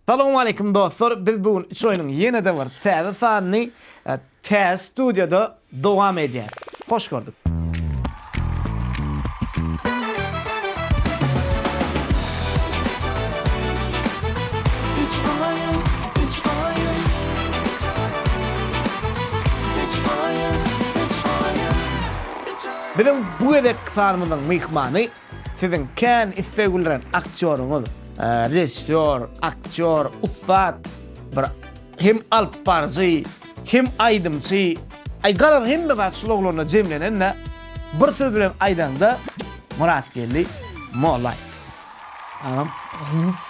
Salowmaleýkim dostlar biz bu gün üç oýnuň ýene-de bir täze sanyny täze studiýada dowam edýäs. Hoş gördük. Biziň bu gezekki sanymyzyň myhmany Siziň kän isleg bildiren aktýoryňyz, režissýor, aktýor, ussat, bir hem alyp baryjy, hem aýdymçy, aý garaz hemme zat şul oglanda jemlenende, bir söz bilen aýdaňda Myratgeldi Mollaýew. Agam,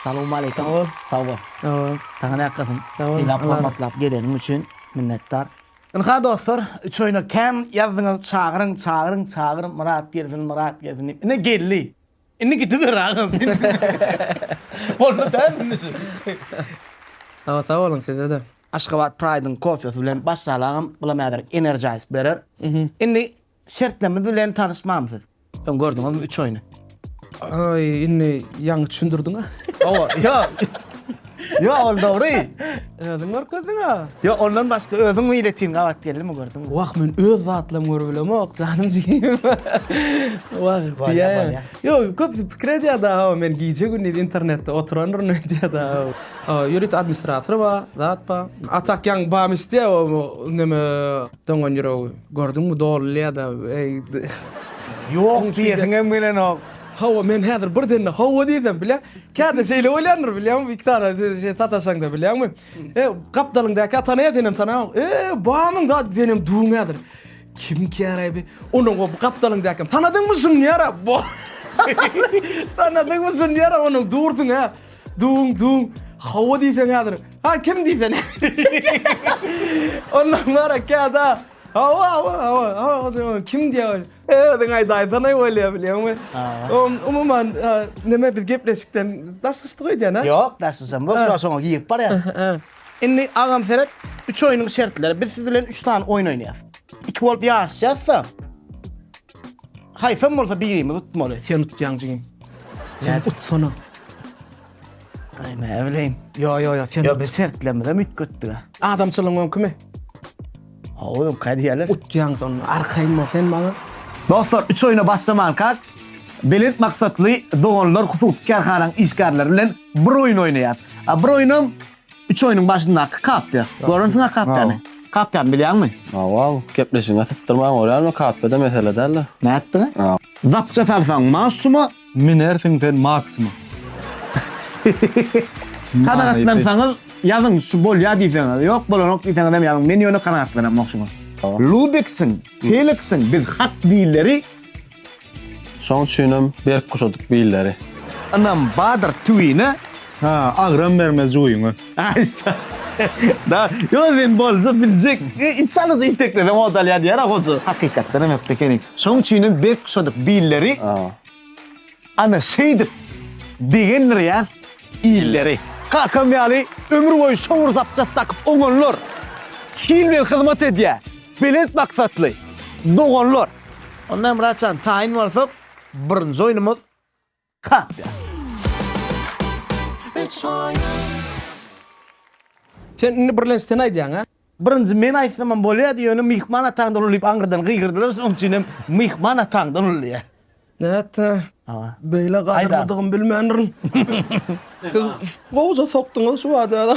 salowmaleýkim. Sag bol. Sag bol. Sag bol. Saňa nätgasyn. Sag bol. Sylag-hormatlap geleniň üçin minnetdar. Ynha dostlar üç oýna kän ýazdyňyz çagyryň çagyryň çagyr Myrat gelsin Myrat gelsin diýip ine geldi. Indi gidiber agam. Boldy däl indi şu. Sag sag boluň sizede. Aşgabat Pride-yň kofesi bilen başlaly agam, bulam häzirek energize berer. Indi Şertnemiz bilen tanyşmamsyz. Soň gördüňizmi üç oýny. Aý indi ýaňy düşündirdiňa. Hawa ýok. Ýok ol dogry. Özüň görkezdiňa. Ýok ondan başga özüň biletin gabat geldimi gördüňmi. Wah men öz zatlarymy görüp bilemok janym jigim. Wah diýýä. Ýok köpüsi pikir edýär da hawa men gije gündiz internetde oturandyr öýdýär da. Ýörite administratory bar zat bar. Atak ýaňy bam isteýär o neme. Doňan ýüregi, gördüňmi dolulýada eý. Ýok diýesiňem gelenok. Hawa men häzir birdenede hawa diýsem bile käte şeýle bolýandyr bilýäňmi gitara şeý sataşaňda bilýäňmi e gapdalyňdaky tanaýa senem tanaýaňok e bamyň zady senem duň häzir kim käraý bi onuň o gapdalyňdakem tanadyňmy şuny ýara bo tanadyňmy şuny ýara onuň dursuň hä. Dun dun hawa diýseň häzir. Ha kim diýse näme diýjek. Ondan wara käda hawa hawa hawa hawa diýen kim diýer. Özüň aýdaýsana bolýar bilýäňmi. On umuman neme biz gepleşikden daşlaşdyk öýdýän-a. Ýok daşlaşamok soň şoňa girip barýan. Indi agam seret, üç oýnuň şertleri. Biz siz bilen üç sany oýun oýnaýas. Iki bolup ýaryşýas-da. Haýsam bolsa birimiz utmaly. Sen utýaň jigim. Sen utsana. Aý, näbileýin. Ýo, ýo, ýo, sen. Ýo, biz şertlerimize üýtgetdik-ä. Adamçylygyň öňkümi? Howum kadýalar. Utýaň şonda arkaýyn bol sen maňa. Dostlar üç oýuna başlamankak Belent maksatly doganlar hususy kärhananyň işgärleri bilen bir oýun oýnaýas. A bir oýunam üç oýunyň başyndaky kapýa. Görensiňa kapýany. Kapýany bilýäňmi? Hawa, gepleşigiňe sypdyrmaň görýärmi, kapýada mesele däldir. Nätdiňä? Zapça salsaň maşuma, Münersiň sen Maksma. Kanagatlansaňyz ýazyň şu bolýa diýseňiz ýok bolanok diýseňizem ýazyň men ýöne kanagatlanamok şuňa. Lubeksiň, Feliksiň biz hak dilleri. Şoň üçinem berk guşadyk billeri. Ynam badyr tüwine. Ha agram bermez juwyňa. Aýsa. Da, yo men bolja biljek. Iç alyjy iteklere modal ýa diýer hoja. Hakykatdan hem ökde ekeni. Şoň üçin hem berk guşadyk billeri. Ana şeýdip begendir ýaz illeri. Kakam ýaly ömür boýy şowur zapças dakyp oňanlar. Hil bilen hyzmat edýär. Belent maksatly doganlar. Onda Myratjan taýyn bolsak birinji oýnumyz. Kapýa. Sen indi birlenç sen aýdýaň a? Birinji men aýtsamam bolýardy ýöne myhman ataňdan uly diýip aňyrdan gygyrdylar şonuň üçin hem myhman ataňdan uly diýýä. Nätdi? Hawa. Beýle gadyrlydygym bilmändirin. Siz gowja sokduňyz şu bada.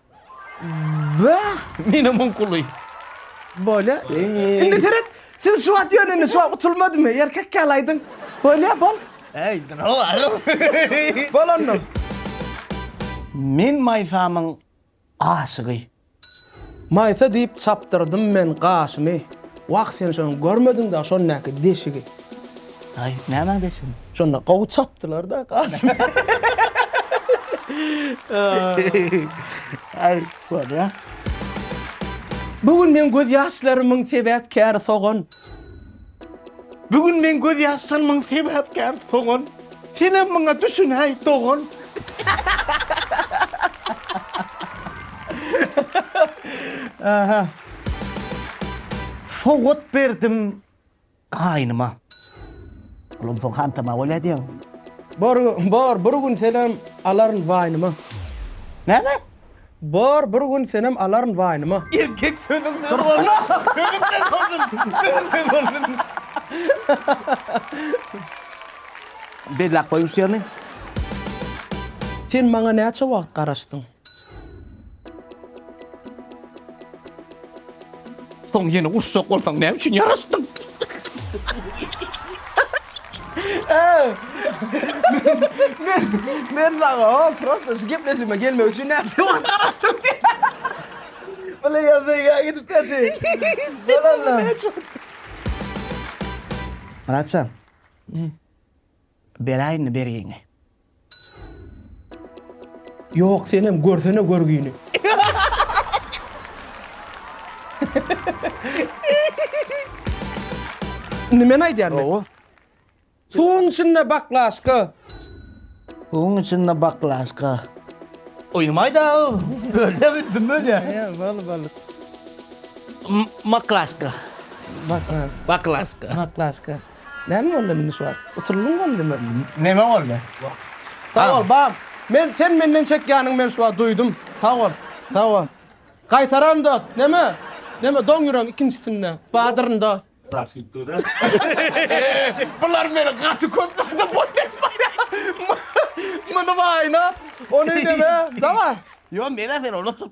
Wah! Menä muň kuly. Bolýa. Indi seret. Siz şu wagt ýöne şu wagt utulmadymy? Erkek ýaly aýdyň. Bolýa, bol. Äý, dura baryň. Bol onda. Men Maýsamyň aşygy. Maýsa diýip çapdyrdym men gaşymy. Wah, sen şony görmediň-dä, şondaky deşigi. Aý, nämäň deşigini? Şonda gowy çapdylar-da, Kasym. Aý, bolýa. Bu gün meň gözýaşlarymyň sebäpkäri sogan. Bu gün meň gözýaşlarymyň sebäpkäri sogan. Senem muňa düşünäý, dogan. Sowgat berdim Gaýnyma. Olam soň hantama bolýa diýen. Bor, bor, bir gün senem alaryn waýnyma. Näme? Bor, bir gün senem alaryn waýnyma. Erkek sözüň ne bolsun? Sözüň ne bolsun? Sözüň ne bolsun? Belläp goýuň şu ýerini. Sen maňa näçe wagt garaşdyň? Soň ýene urşak bolsaň näme üçin ýaraşdyň? Men men saňa o prosta şu gepleşime gelmek üçin näçe wagt garaşdym diýip. Bile ýazýa gidip täti. Bolanlar. Myratjan. Beräýinmi bergiňi? Ýok senem görsene görgini. Indi men aýdýan men. Gowy. Suwuň içinde baklaşka. Suwuň içinde baklaşka. Uýumaýda o. Bölde bilsin bölýä. Ýa bal bal. Maklaşka. Baklaşka. Baklaşka. Maklaşka. Näme boldy indi şu wagt? Utulyň boldymy? Neme boldy? Sag bol, bam. Men sen menden çekýäniňi men şu wagt duýdum. Sag bol. Sag bol. Gaýtararyn dost. Neme? Neme doň ýüregiň ikinjisinde. Badyryn dost. Bular meni gaty köp zada boýun etmäýär. Muny baýna, ony neme? Daway. Ýok, men-ä seni unutyp.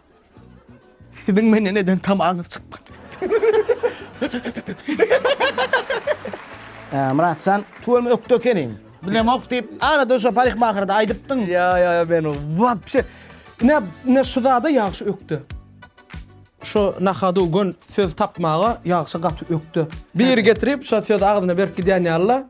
Siziň menden eden tamaňyz çykmady. Myratjan, tuweleme ökde ekeniň. Bilemok diýip, arada şo parykmahyrda aýdypdyň. Ýa, ýa, ýa, men wapşe. Ine, ine şu zada ýagşy ökde. Şu nahadu gün söz tapmaga ýagşy gaty ökde. Biri getirip, şo sözi agzyna berip gidýän ýaly-la.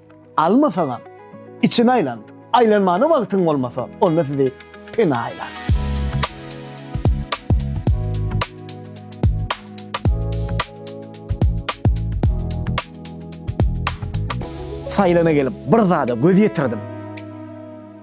Almasaňam, içini aýlan. Aýlanmana wagtyň bolmasa, onda sizi pena aýlar. Saýlana gelip, bir zada göz ýetirdim.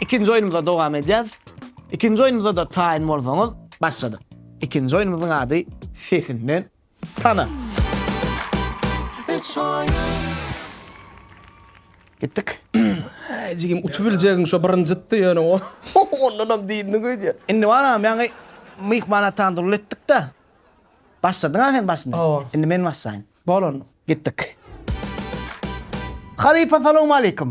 Ikinji oýnumyza dowam edýäs. Ikinji oýnumyzada taýyn bolsaňyz başladyk. Ikinji oýnumyzyň ady Sesinden tana. Üç oýun. Gitdik. Äý jigim utup biljegiň şo birinjitdi ýöne o. Ondanam dilini güýdýär. Indi baranam ýaňy myhman atan durly etdik-de. Başladyň-a sen başyny. Hawa. Indi men başlaýyn. Bol onda. Gitdik. Halypa salowmaleýkim.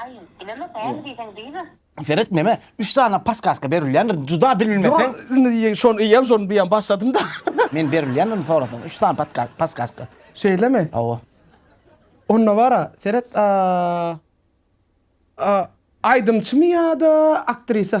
Aý, bilemok, näme diýseň diýme. Seret neme üç sany paskaska berilýändir juda bilbilmeseň. Indi şony iýem şony biýem başladym da. Men berilýändirini sorasaň üç sany paskaska. Şeýlemi? Hawa. Onda bara seret a a aýdymçymy ýa-da aktrisa?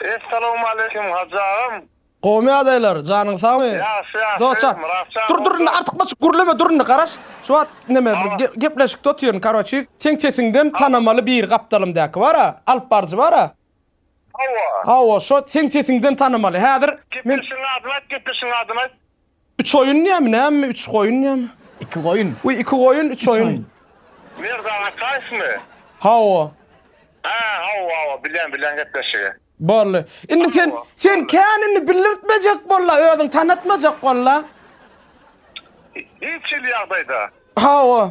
Essalowmaleýkim Hajy agam. Gowymy ýagdaýlar, janyň sagmy? Ýagşy ýagşy, Dost jan. Myrat jan Dur dur indi goldar. artykmaçyk gürleme dur indi garaş. Şu wagt neme bir Tamam. ge- gepleşikde otyryn karoçi. Seň sesiňden Tamam. tanamaly biri gapdalymdaky bara, alyp baryjy bara. Hawa. Hawa şo seň sesiňden tanamaly. Häzir men Gepleşigiň adyny aýt, gepleşigiň adyny aýt. Üç oýun diýämi, nämemi, üç goýun diýämi? Iki goýun. Wi, iki goýun, üç oýun. Merdan Ataýewmi? Hawa. Hä, hawa, hawa, bilýän, bilýän gepleşigi. Boldy. Indi sen, sen kän indi bildirtmejek bol-la, özüň tanatmajak bol-la. Hiç hili ýagdaýda. Hawa.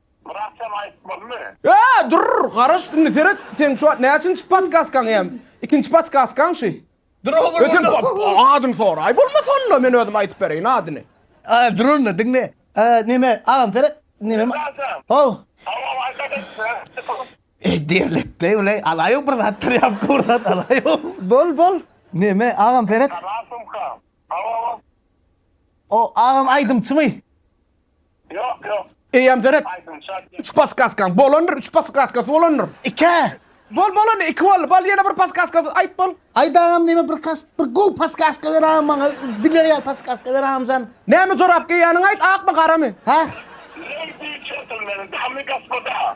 Biraz sen aýtmalymy? Eee durr garaş indi seret seň şu wagt näçinji paskaskaň eýem ikinji paskaskaň şu. Durr bir sen adyny soraý bolmasa onda men özüm aýtyp bereýin adyny. Aaa durr onda diňle eee neme agam seret neme ma How. Eý derlekde bile alaýyň bir zat trýapka bir zat alaýyň. Bol bol. Neme agam seret. O agam aýdymçymy? Ýok, ýok. Eýýäm deret. Üç paskaskaň bolandyr, üç paskaskas bolandyr. Ikä. Bol, bol indi, iki boldy. Bol, ýene bir paskaskas aýt bol. Aýt agam diýme bir kas, bir gowy paskaska ber agam maňa. Biler ýaly paskaska ber agamjan. Näme jorap geýýäniňi aýt, akmy, garamy? Hä? Lady, jentlmen, damy, gospoda.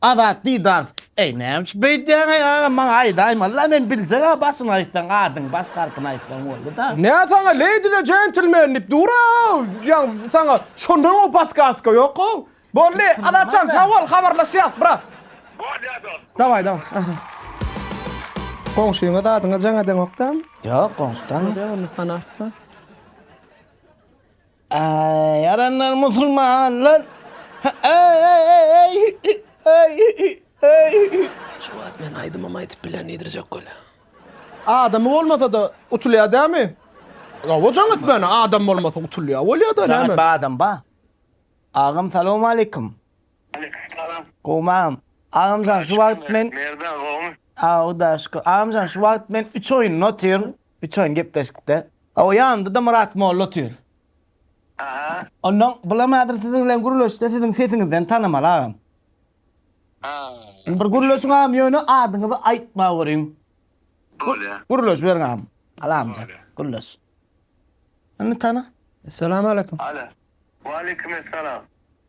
Azat Didarov, Eý, näme üçin beýdýäň-eý, agam, maňa aýdaýmala, men biljeg-ä, başyny aýtsaň, adyňy, baş harpyny aýtsaň boldy-da. Nä saňa Lady the Gentleman diýip dur-ow, ýa saňa şondan-ow paskaska ýok-ow. Boldy, Azatjan, sag bol, habarlaşýas, brat. Bolýa, dost. Dawaý, dawaý. Goňşyňa zadyňa jaň edeňok-dam? Ýok, goňşy tanamok. Bolýa, onda tanarsyň. Aý, ýaranlar musulmanlar. Aý, aý, aý, aý, aý, aý. Şu wagt men aýdymam aýdyp bilen diýdirjek welä. Adamy bolmasa-da utulýar dämi? Hawa jaň etmäne, adam bolmasa utulýar bolýar-da näme? Jaň etme adam ba. Agam salowmaleýkum. Aleýkum salam. Gowmam. Agamjan şu wagt men. Merdan gowmy? Aw hudaýa şükür. Agamjan şu wagt men üç oýunda otyryn. Üçaýyn gepleşikde. Hawa, ýanynda-da Myrat molla otyr. Aha. Ondan bulam häzir siziň bilen gürleşse siziň sesiňizden tanamaly agam. Indi bir gürleşiň agam ýöne adyňyzy aýtma görüň. Bolýa. Gürleşiberiň agam. Salamjyk. Gürleş. Indi tana. Essalamu aleýkum. Alo. Waleýkim essalam.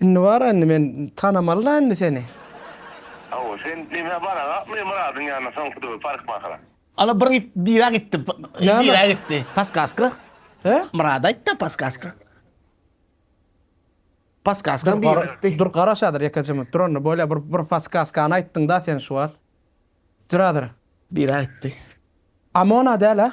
Indi bar indi men tanamaly da indi seni. Hawa sen demä baragakmy Myradyň ýanyna soňky döwür parykmahara? Ala bir it bira gitdi bira gitdi paskaska He? Myrada aýtda paskaska Paskaska bira gitdi. Dur garaşadyr ýeke jymy dur onda bolýa bir bir paskaskany aýtdyň da sen şu wagt. Duradyr. Bira gitdi. Amona däl-ä?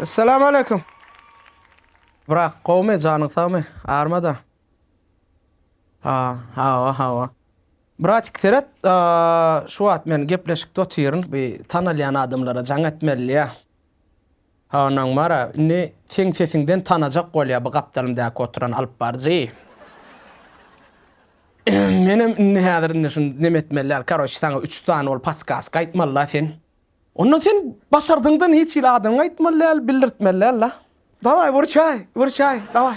Essalam aleýkum. Brak, gowmy, janyň sagmy? Armada. Ha, hawa, hawa. Bratik seret, şu wagt men gepleşikde otyryn, bir tanalýan adamlara jaň etmeli ýa. Onam bar-a, indi seň sesiňden tanajak bolýa bu gapdalymdaky oturan alypbaryjy. Menem indi häzir indi şuny neme etmeli däl, karoç, saňa üç sany ol podskaska aýtmaly-la sen. Onda sen başardyňdan hiç hili adyňy aýtmaly däl, bildirtmeli däl-la. Dawaý, wyrçaý, wyrçaý, dawaý.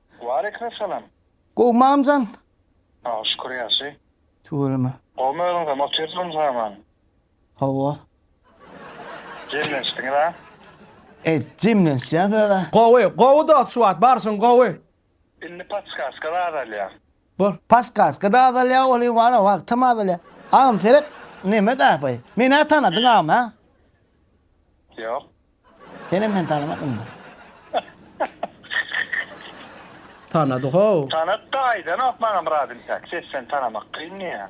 Waleýkim salam. Gowy mamjan. Saga şükür ýagşy. Tüweleme. Gowmy özüňizem otyrsyňyz haman. Hawa. Jemlenişdiňiz a. E jemlenişýäs özä. Gowy gowy dost şu wagt barşyň gowy. Indi podskaska zat alýa. Bu paskaska da azalýa oly wara wagtam azalýa agam seret neme dahybaý menä tanadyň agam hä. Ýok. Senem meni tanamadymda. Tanady how. Tanat da aýdanok maňa Myrat intäk ses seni tanamak kyn diýýä.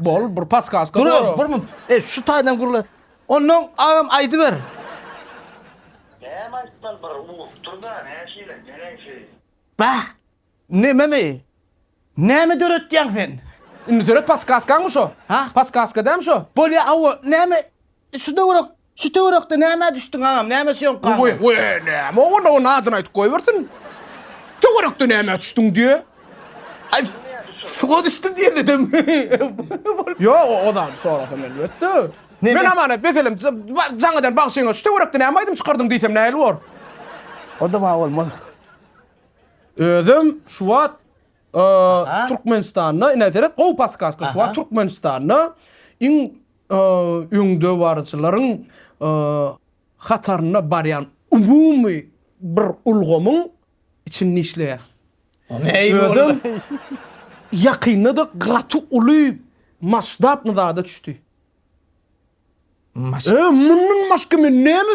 Bol bir paskaska Gürle bor. bir mut. E şu taýdan gürle. Ondan agam aýdyber. Näme aýtmaly bir urup dur-da näşeýle neneňsi. Bäh! Nememi? Näme döretýäň sen? Indi döret paskaskaňmy şo? Ha? Paskaska dämi şo? Bolýa hawa näme şu döwürek Şu töwerekde nämä düşdüň agam, nämä sýomka Goý, aldyň? goý, näme o, onda onuň adyny aýdyp goýbersin. Töwerekde nämä düşdüň diýýä. Aý, suwa düşdüm diýendenem bolup. Ýok, o zady sorasam elbetde. Neme? Men Amanet meselem jaňadan bagşyňa şu töwerekde näme aýdym çykardyň diýsem nähili bor? Onda bar bolmaz. Özüm şu wagt şu Türkmenistanda, ine seret, gowy podkastka, şu wagt Türkmenistanda iň öňdebaryjylaryň hatarynda barýan umumy bir ulgamyň içinde işleýär. Özem ýakynda-da gaty uly masştabny zada düşdi. Mundan başga men näme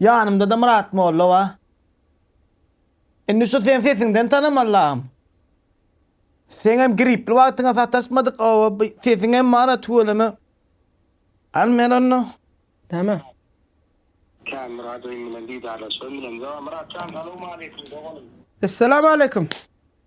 Ýanymda-da Myrat molla bar. Indi şu sen sesiňden tanaman lagym. Seňem gripli wagtyňa sataşmadyk oba bu sesiňem bar-a tüweleme. Al men onda. Näme? Kän Myrat öýüm bilen didarlaşygym bilen. Myrat jan salowmaleýkim doganym. Essalamu aleýkum.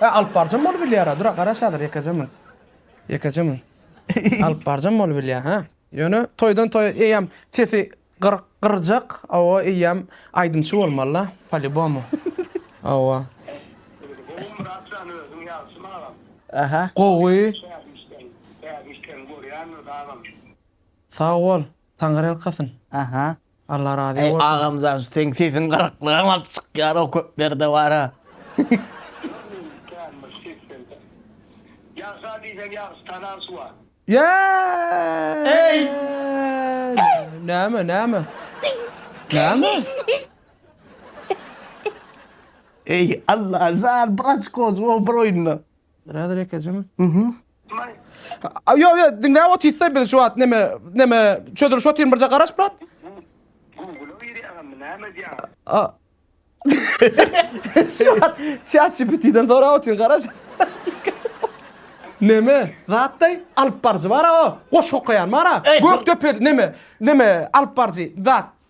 He alyp barjam bolup bilýara dura garaş hazir ýekeje mün. Ýekeje mün. Alyp barjam bolup bilýä hä. Ýöne toýdan toýa eýýäm sesi gyryk gyrjak owo eýýäm aýdymçy bolmalyda palibomu owo. Gowumyrat jan özüň ýagşymy agam. Ähä gowy. Täze işleň täze işleň görýändir agam. Sag bol, taňyrýalkasyn. Aha Allah razy bolsun. Eý agamjan seň sesiň gyraklygam alyp çykýar o köp ýerde bara. Ýagşa diýseň ýagşy tanan suwa. Eý! Näme näme? Näme? Eý Allajan bir açko suwa bir oýunda. Birader ekejim. Mhm. May. A, Yo yo diňläp otyrsa biz şu wagt neme neme çözülüş otyryn birje garaş brat. Google girýäňmi? Näme edýäň? A. Şu wagt chat GPT-den sorap otyryn garaş. Neme? Zatdaý alyp baryjy bar-a o. Goşgy okaýan bar-a. Gökdepe neme? Neme alyp baryjy zat.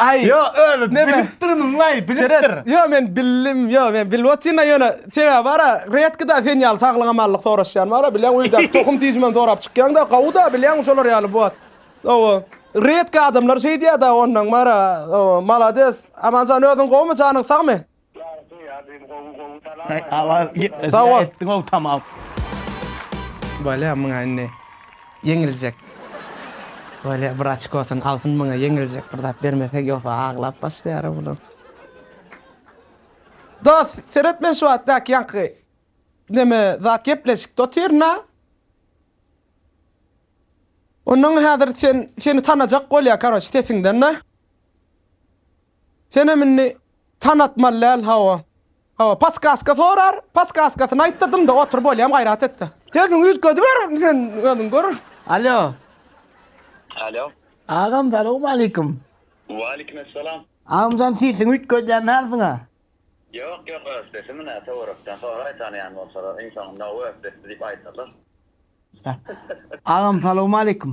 Aý. Ýo, özi bilipdirmiňlaý, bilipdir. Ýo, men bildim, ýo, men bilip otyryn-a, ýöne sebäbi bar-a, redki-da sen ýaly saglyk-amanlyk soraşýan bar-a, bilýäň, öýdäki tohum-tijimem sorap çykýaň-da, gowy-da, bilýäňmi, şolar ýaly bot. Hawa. Redki adamlar şeýdýär-dä, onnoň bar-a, hawa, malades. Aman jan, özüň gowumy, janyň sagmy? Sag bol. Bolýa muňa indi ýeňiljek. Bolýa bir açkosyny alsyn muňa ýeňiljek bir zat bermesek ýogsa aglap başlaýar a bular. Dos seret men şu wagt daki ýaňky neme zat gepleşikde otyryn a. Ondan häzir sen seni tanajak bolýa karoç sesiňden a. Senem indi tanatmaly däl hawa. Hawa paskaska sorar, paskaskasyny aýt-da dymda otur bolýam gaýrat et-de. Sesiňi üýtgediber sen özüň gör. Alýo. Alýo. Agam salowmaleýkim. Waleýkim essalam. Agamjan sesiňi üýtgedýän dälsiň-a. Ýok ýok öz sesimi nä töwerekden soraý tanaýan bolsalar iň soňunda ow öz sesdi diýip aýdarlar. Agam salowmaleýkim.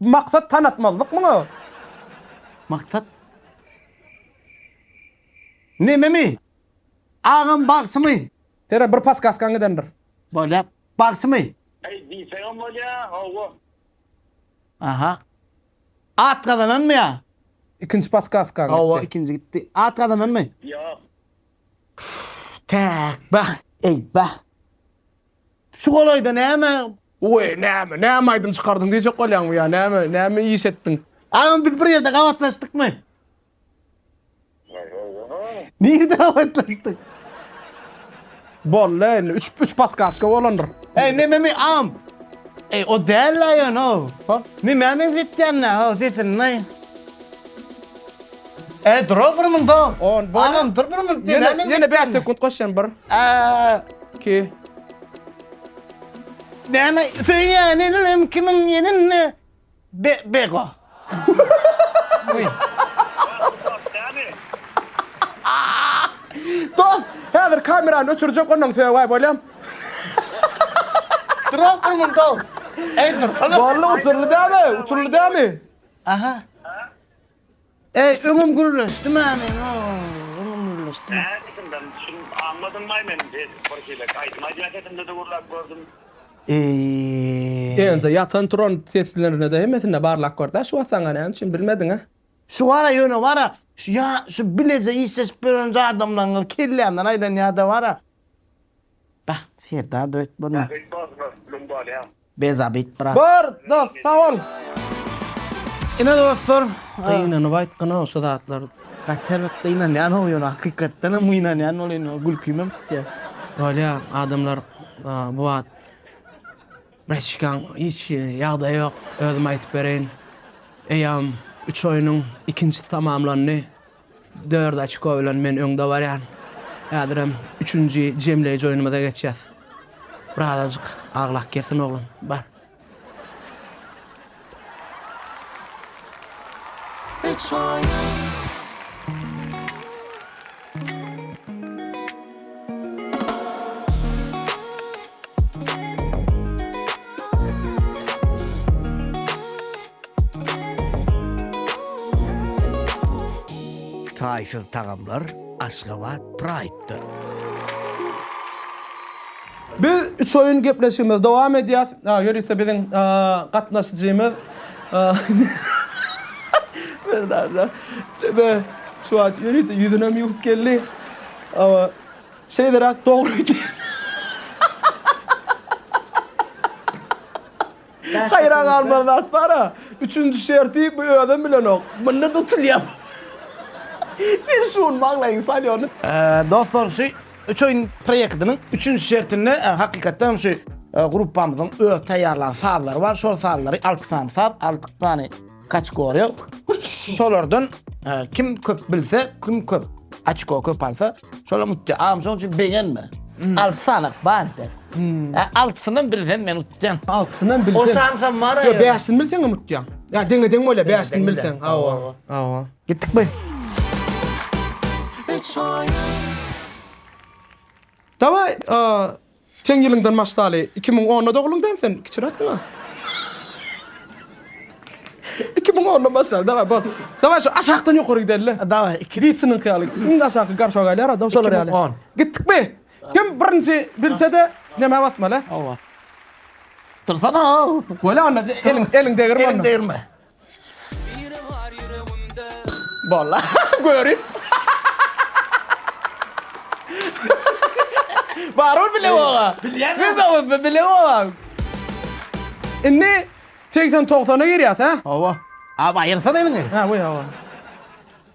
Bu maksat tanatmazlyk muňa. Maksat nememi? Agam bagşymy? Sere bir paskaskaň gidendir. Bolýa bagşymy? Eý diýseňem bolýa howwa. Aha. At gazananmy ýa? Ikinji paskaskaň gitdi. Howwa ikinji gitdi. At gazananmy? Ýok. Täk bah, eý bah. Şu golaýda näme Oý, näme, näme aýdym çykardyň diýjek bolýaňmy ýa näme, näme iş etdiň? Agam biz bir ýerde gabatlaşdykmy? Nirde gabatlaşdyk? Boldy indi üç üç paskaska bolandyr. Eý nememi agam. Eý o däl la ýöne o. Ha? Nämä meňzetýän la o sesini näý? Eý dur o bir munda. On, boýna. Agam dur bir munda. Ýene ýene 5 sekund goşýan bir. Eee 2 Näme söýýän elem kimiň elinde be bego. Dos, häzir kamerany öçürjek ondan sögä bolýam. Durap durmyň dos. Eý dursana. Boldy uturly dämi? Uturly dämi? Aha. Eý öňüm gürleşdi mä meň ow öňüm gürleşdi mä. Näme diýdim men şuny aňmadym maý men edip bir hile aýdym aýdýan sesimde de gürläp gördüm. Eý. Ense ýatan turan seslerinde hemmesinde barlap gördä şu wasaňa näme üçin bilmediňä. Şu gara ýöne bara şu ýa şu bileje işleşip ýören jadamlaňňyz kellämden aýlan ýada bara. Bah Serdar da öýtmedi. Ýa öýtmezmi lüm bolýa. Bez Abid brat. Bor dost sag bol. Ine dostlar gynanyp aýtgynok şu zatlary. Gaty bir gynanýanok ýöne hakykatdanam gynanýan ol indi gülkimem çykýar. Bolýa adamlar bu wagt Breçkaň hiç ýagdaýy ýok özüm aýtyp bereýin eýam üç oýnuň ikinjisi tamamlandy. Dört oçko bilen men öňde barýan. Häzirem üçünji jemleýji oýnumyza geçýäs. Birazajyk aglak girsin oglan. Bar. Üç oýun. Taýsyz tagamlar Aşgabat Pride-da! Biz üç oýun gepleşigimizi dowam edýäs. Ýörite biziň gatnaşyjymyz Merdan şu wagt ýörite ýüzünem ýuwup geldi. Awa, şeýleräk dogry öýdýän. Haýran galmaly zat bar-a, üçünji şerti bu özem bilenok. Munda tutulýar. Sen şuny maňlaýyňy sal ýöne. Dostlar, şu Üç oýun proýektiniň üçünji şertinde hakykatdanam şu gruppamyzyň öz taýýarlan sazlary bar. Şol sazlary alty sany saz, alty sany Kategoriýa şolardan kim köp bilse, kim köp açko köp alsa, şolar mutdy. Am şoň üçin begenme. Alty sanak bardy. Altysyndan biri sen men utdyan. Altysyndan biri sen. O sansa mara. Yo beşini bilsen mi utdyan? Ya denge denge öyle beşini bilsen. Awa. Awa. Gittik mi? Üç oyun. Давай, Seň ýylyňdan maşdaly iki müň onda dogluň dämi sen kiçiräksiňa. Iki müň onda maşdaly daway bol. Daway şu aşakdan ýokary gideli. Daway iki. Witsiniňki ýaly iň-de aşaky garşa galýar adam şolar ýaly. Iki müň on. Gitdikmi? Kim birinji bilse-de nemä basmaly? Hawa. Tursana-ow. Bolýa onda eliň eliň degirme onda. Eliň degirme. Bolla görüp. Barur bile oga. Bilýän Bilýän mi? mi? Bile oga. Indi 80-90-a girýäs, hä? Hawa. Abi aýyrsan eliňi. Hä, we hawa.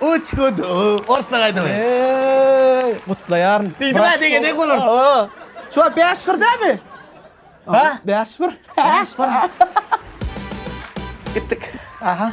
Uç hut u orta gaýdaly. Eeeý gutlaýaryn. Diýdiňä degedek bolar. Şo bäş bir dämi? Ha? Bäş bir. Bäş bir. Gitdik. Aha.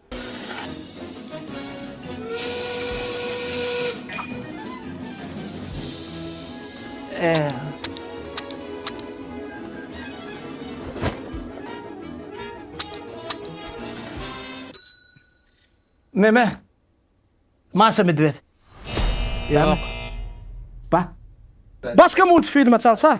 Meme. Maşa Medwed. Ýok. Ba. Başga multfilme çalsa.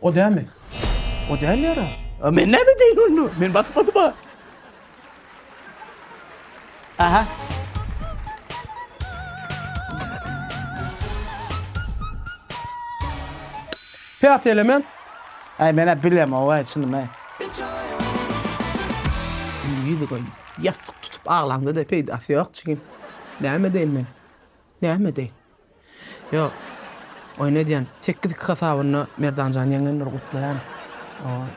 O dämi? O däl ýara. A men näme edeýin onda? Men basmadym-a. Aha. Päti elemen. Aý men-ä bilemog-aý çynym-aý. Indi ýüzi goýun. Ýassyk tutup aglaňda-da peýdasy ýok jigim. Näme edeýin men? Näme edeýin? Ýok. Oýun edýän. Sekiz iki hasabynda Merdanjan ýeňendir gutlaýan. Oý.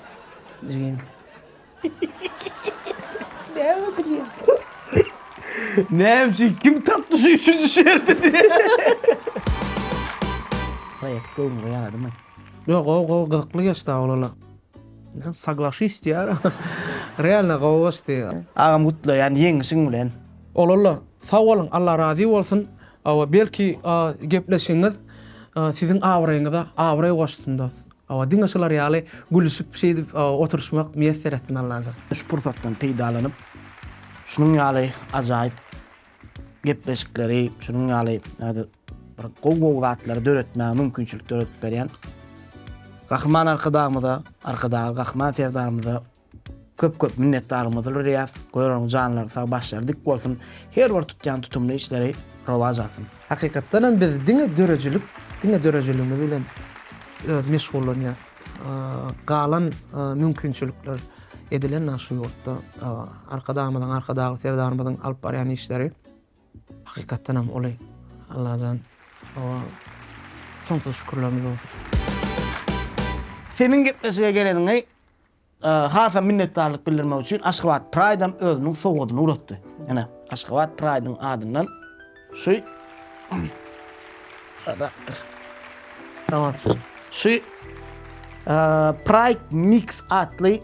Jigim. Näme gülýäň? Näme üçin kim tapdy şu üçünji şerti diýýän. Proýekt göwnüňe ýaradymy? Ýo gowy gowy gyzykly geçdi awlala. Ýa saglaşyş diýýär. Realno gowy geçdi. Agam gutlaýan ýeňişiň bilen. Olalla sag boluň Alla razy bolsun Hawa, belki gepleşigiňiz siziň abraýyňyza abraý goşsun dos. Hawa, diňe şular ýaly gülüşip şeýdip oturyşmak miýesser etsin Allajan. Şu pursatdan peýdalanyp, şunuň ýaly ajaýyp gepleşikleri, şunuň ýaly bir gowy-gowy zatlary döretmäge mümkinçilik döredip berýän Gahryman Arkadagymyza, Arkadagly Gahryman Serdarymyza Köp köp minnetdarymyzdyr Ryýaz görüň janlary sag başlary dik bolsun her bir tutýan tutumly işleri rowaç alsyn. Hakykatdanam biz diňe döredijilik diňe döredijiligimiz bilen öz meşgullanýas galan mümkinçilikler edilen naş şu ýurtda arkadagymyzyň arkadagly serdarymyzyň alyp barýan işleri hakykatdanam uly Allajan soňsuz şükürlerimiz bolsun. Seniň gepleşige geleniňi Hasam minnetdarlyk bildirmek üçin Aşgabat Pride-am özüniň sowgadyny ugratdy. Ene, Aşgabat Pride-yň adyndan şu Rakdyr. Tamam. Şu Pride Mix atly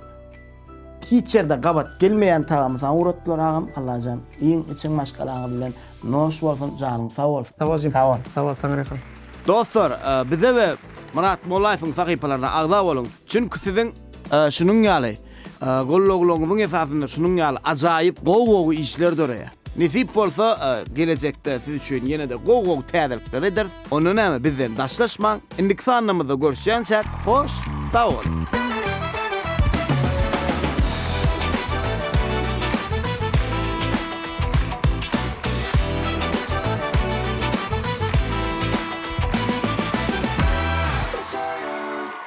hiç ýerde gabat gelmeýän tagamy saňa ugratdylar agam. Allajan, iň içiň maşgalaňyz bilen noş bolsun, janyň sag bolsun. Sag bol jigim. Sag bol. Sag bol, Taňry ýalkasyn. Dostlar, bize we Myrat Mollaýewiň sahypalaryna agza boluň. Çünki siziň şunuň ýaly gollaglaryňyzyň esasynda şunuň ýaly ajaýyp gowy-gowy işler döreýär. Nesip bolsa, gelejekde siz üçin ýene-de gowy-gowy täzelikler ederis. Onda näme, bizden daşlaşmaň. Indiki sanlarymyzda görüşýänçäk, hoş sag boluň!